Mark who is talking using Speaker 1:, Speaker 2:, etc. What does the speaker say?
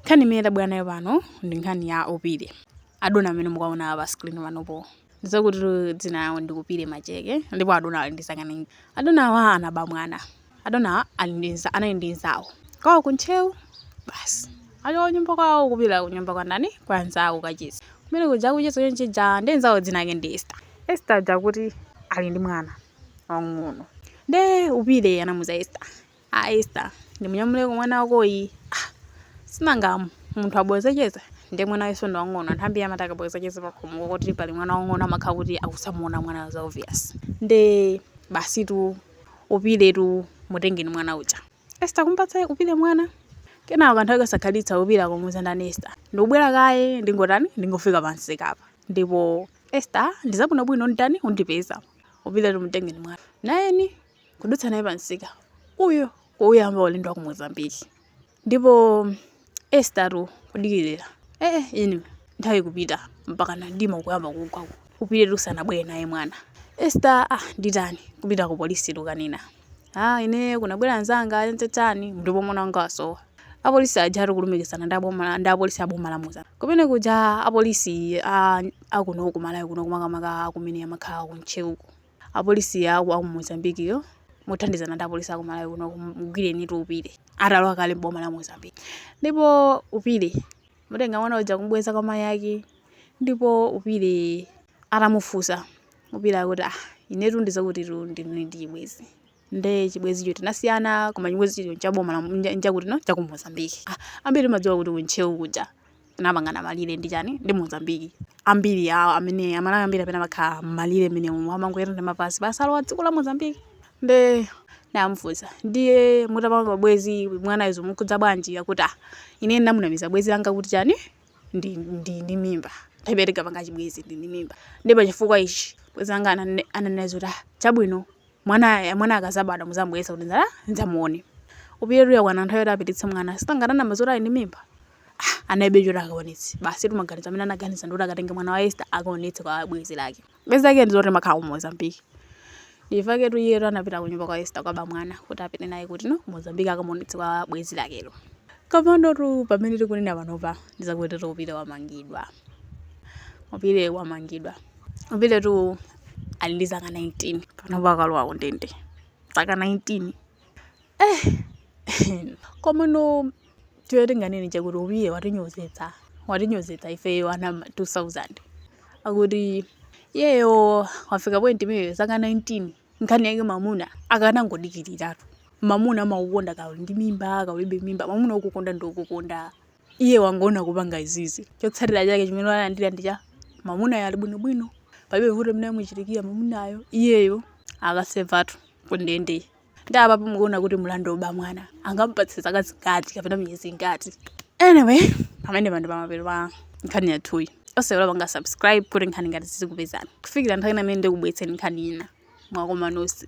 Speaker 1: Nkhani imene tabwera nayo pano ndi nkhani ya Upile. Adona amene mukuwaona pa screen panopo ndi zakuti dzina lawo ndi Upile Macheke ndipo adona ali ndi zaka 19. Adonawa anaba mwana. Adonawa ali ndi anali ndi mnzawo kwawo ku Ntcheu basi achoka kunyumba kwawo kupita kunyumba kwa ndani? Kwa mnzawo kukacheza. Kumene kuja akucheza chonchija ndiye mnzawo dzina lake ndi Esther. Esther uja akuti ali ndi mwana wamng'ono. Ndiye Upile anamuuza Esther a Esther ndimunyamuleko mwana wakoyi ah sinanga munthu abweza cheza ndiye mwana wakenso ndi wang'ono anthu ambiri amati akabweza cheza pakhomo kuti pali mwana wang'ono amakhala kuti akuzamuona mwana za obvious nde basitu Upiletu mutengeni mwana uja Esther kumpatsa Upile mwana kenako kanthawi kasakhalitsa Upile akumuuza ndani Esther ndikubwera kaye ndingotani ndingofika pamsika apa ndipo Esther ndizabwinobwino ndani undipeza Upiletu mtengeni mwana nayeni kudutsa naye pamsika uyo kuuyamba ulendo wa ku mozambiki ndipo Esthertu kudikirira ee inu nthawi kupita mpakana mdima ukuyamba kugwa ku- Upiletu sanabwere naye mwana Esther ah nditani kupita ku polisi kukanena ah ine kunabwera anzanga anzetsani ndipo mwana wanga wasowa apolisi aja ari kulumikizana ndi aboma- ndi apolisi aboma la Moza kumene kuja apolisi a- akuno kumalawi kunoko makamaka akumene amakhala ku Ntcheuko Apolisi a ku Mozambique yo mothandizana ndi apolisi a ku Malawi kuno mugwirenitu Upile atalowa kale m'boma la Mozambique. Ndipo Upile mutenga mwana uja kumubweza kwa mayi ake ndipo Upile atamufunsa Upile akuti ah inetu ndizokutitu ndinali ndi chibwezi. nde chibwezicho tinasiyana koma chibwezicho chaboma la- ncha- nchakuti no cha ku mozambiki Ah, ambiri timadziwa kuti kuntcheu kuja anapangana malire ndi chani ndi mozambiki ambiri awo amene amalawi ambiri amene amakhala m'malire amene umu amangoyenda ndi mapazi basi alowa dziko la mozambiki nde atamufunsa ndiye mutapanga bwezi mwanayi zomukhudza bwanji akuti ah ine ndamunamiza bwezi langa kuti chani ndi, ndi, ndi mimba nthawi tinkapanga chibwezi ndili ndi mimba ndipo chifukwa ichi bwezi langa anane- ananena zoti ah chabwino Mwana mwana akazabadwa muzamubweretsa kuti ndala ndidzamuone. Upiletu yakwana nthawi yoti apititse mwana. Sinanga ananama zoti ali ndi mimba. Ah, analibe choti akaonetse. Basitu maganizo amene anaganiza ndi kuti akatenge mwana wa Esther akaonetse kwa bwenzi lake. Bwenzi lake ndi zoti amakhala ku Mozambique. Nchifukwa chaketu iye anapita ku nyumba kwa Esther kukaba mwana kuti apite naye kuti no ku Mozambique akamuonetse kwa bwenzi lakelo. Kapano tu pamene tikunena panopa ndizakutitu Upile wamangidwa. Upile wamangidwa. Upiletu ali ndi zaka 19 panopa akalowa kundende zaka 19 eh komano chomwe tinganene nchakuti Upile watinyozetsa watinyozetsa ifeyo ana 2000 akuti iyeyo wafika point imeneyo zaka 19 nkhani yake mamuna akanangodikiliratu mamuna amakukonda kaya uli ndi mimba kaya ulibe mimba mamuna okukonda ndi okukonda iye wangowona kupanga izizi chotsatira chake chimene walandira ndi chakuti mamunayo ali bwinobwino palibe vuto limene lamuchitikira mamunayo iyeyo akasevatu kundende ndi apapo mukuona kuti mlandu oba mwana angamupatse zaka zingati kapena miyezi ingati anyway pamenepa ndi pamapeto pa nkhani yathuyi osaiwala kupanga subscribe kuti nkhani ngati izi zizikupezani kufikira nthawi ina imene ndikubwetseni nkhani ina mwakoma nonse